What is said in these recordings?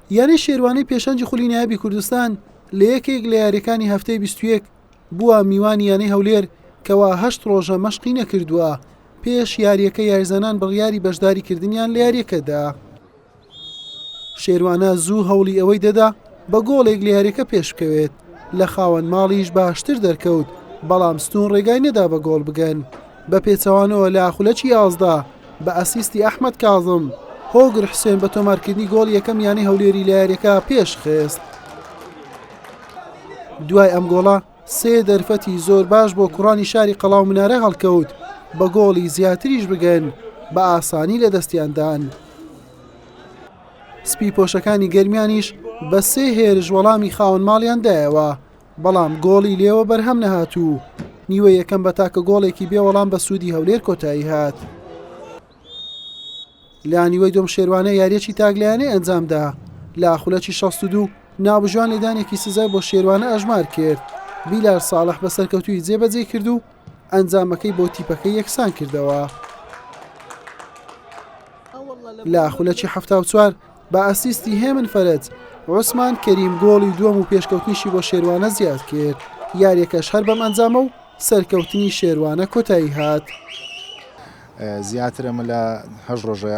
یانەی شێروانی پێشەنگی خولی نایابی کوردستان لە یەکێک لە یاریەکانی هەفتەی 21 بووە میوانی یانەی هەولێر کەوا هەشت ڕۆژە مەشقی نەکردووە پێش یاریەکە یاریزانان بڕیاری بەشداری کردنیان لە یاریەکەدا شێروانە زوو هەوڵی ئەوەی دەدا بە گۆڵێک لە یاریەکە پێشکەوێت لە خاوەن ماڵیش باشتر دەرکەوت بەڵام ستون ڕێگای نەدا بە گۆڵ بگەن بە پێچەوانەوە لە خولەکی یازدە بە ئەسیستی ئەحمەد کازم، هۆگر حوسێن بە تۆمارکردنی گۆڵی یەکەم یانەی هەولێری لە یارییەکە پێشخست. دوای ئەم گۆڵە سێ دەرفەتی زۆر باش بۆ کوڕانی شاری قەڵاو منارە هەڵکەوت، بە گۆڵی زیاتریش بگەن بە ئاسانی لە دەستیاندان. سپی پۆشەکانی گەرمیانیش بە سێ هێرش وەڵامی خاوەن ماڵیان دایەوە، بەڵام گۆڵی لێوە بەرهەم نەهات و نیوە یەکەم بە تاکە گۆڵێکی بێ وەڵام بە سوودی هەولێر کۆتایی هات. لە نیوەی دۆم شێروانە یاریەکی تاگلایانەی ئەنجامدا لە خولەکی 62 ناوبژوان لێدانێکی سزای بۆ شێروانە ئەژمار کرد بیلار ساڵح بە سەرکەوتوی جێبەجێ کرد و ئەنجامەکەی بۆ تیپەکە یەکسان کردەوە لە خولەکی 1970 بە ئەسیستی هێمن فەرەج، عوسمان کەریم گۆڵی دووەم و پێشکەوتنیشی بۆ شێروانە زیادکرد، یارییەکەش هەر بەم ئەنجامە و سەرکەوتنی شێروانە کۆتایی هات. زیاتر ئەمە لە هەشت ڕۆژە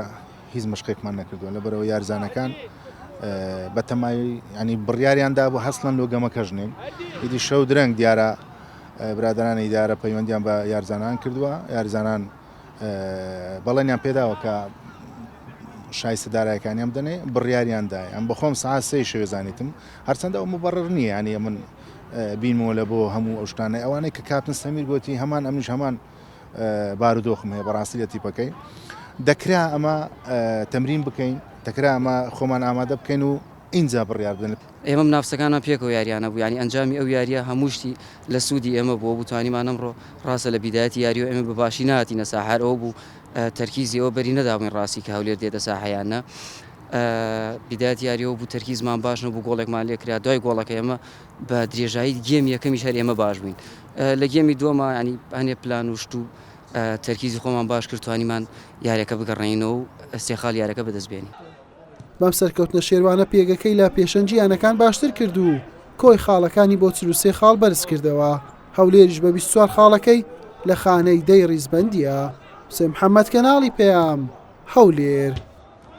هیچ مەشقێکمان نەکردووە، لەبەرئەوەی یارزانەکان بە تەمای ینی بڕیاریان دابوو هەستن لۆ گەمەکەش نین، ئیدی شەو درەنگ دیارە برادەرانی ئیدارە پەیوەندیان بە یارزانان کردووە، یارزانان بەڵێنیان پێداوە کە شایستە دارایەکانیان بدەنێ بڕیاریان دای ئەم بەخۆم سا سێ شوێ زانیتم هەرچەندە ئەو مبڕر نییە ینی من بینمەوە لە بۆ هەموو ئەو شتانەی ئەوانەی کە کاتن سەمیر گوتی هەمان ئەمیش هەمان بارودۆخم هەیە بەڕاستی لە تیپەکەی دەکرا ئەمە تەمرین بکەین دەکرا ئەمە خۆمان ئامادە بکەین و اینجا بڕیاردن ئێمە منافسەکانمان پێکەوە یاریانە بوو یانی ئەنجامی ئەو یاریە هەموو شتی لە سوودی ئێمە بوو ئەوبوو توانیمان ئەمڕۆ ڕاستە لە بیدایەتی یاریەوە ئێمە بە باشی نەهاتینە ساحە هەر ئەوە بوو تەرکیزی ئەوە بەری نەدابووین ڕاستی کە هەولێر دێتە ساحە یان نە بیدایەتی یاریەوە بوو تەرکیزمان باش نەبوو گۆڵێکمان لێ کرا دوای گۆڵەکە ئێمە بە درێژایی گێم یەکەمیش هەر ئێمە باش بووین لە گێمی دووەما ینی هەنێ پلان و شت و تەرکیزی خۆمان باش کرد توانیمان یارەکە بگەڕێنینەوە و ئەستێخال یارەکە بەدەست بێنین بەم سەرکەوتنە شێروانە پێگەکەی لە پێشەنگی یانەکان باشتر کرد و کۆی خاڵەکانی بۆ چل و سێ خاڵ بەرزکردەوە، هەولێریش بە بیست و چوار خاڵەکەی لە خانەی دەی ڕیزبەندییە. حوسێن محەممەد، کەناڵی پەیام، هەولێر.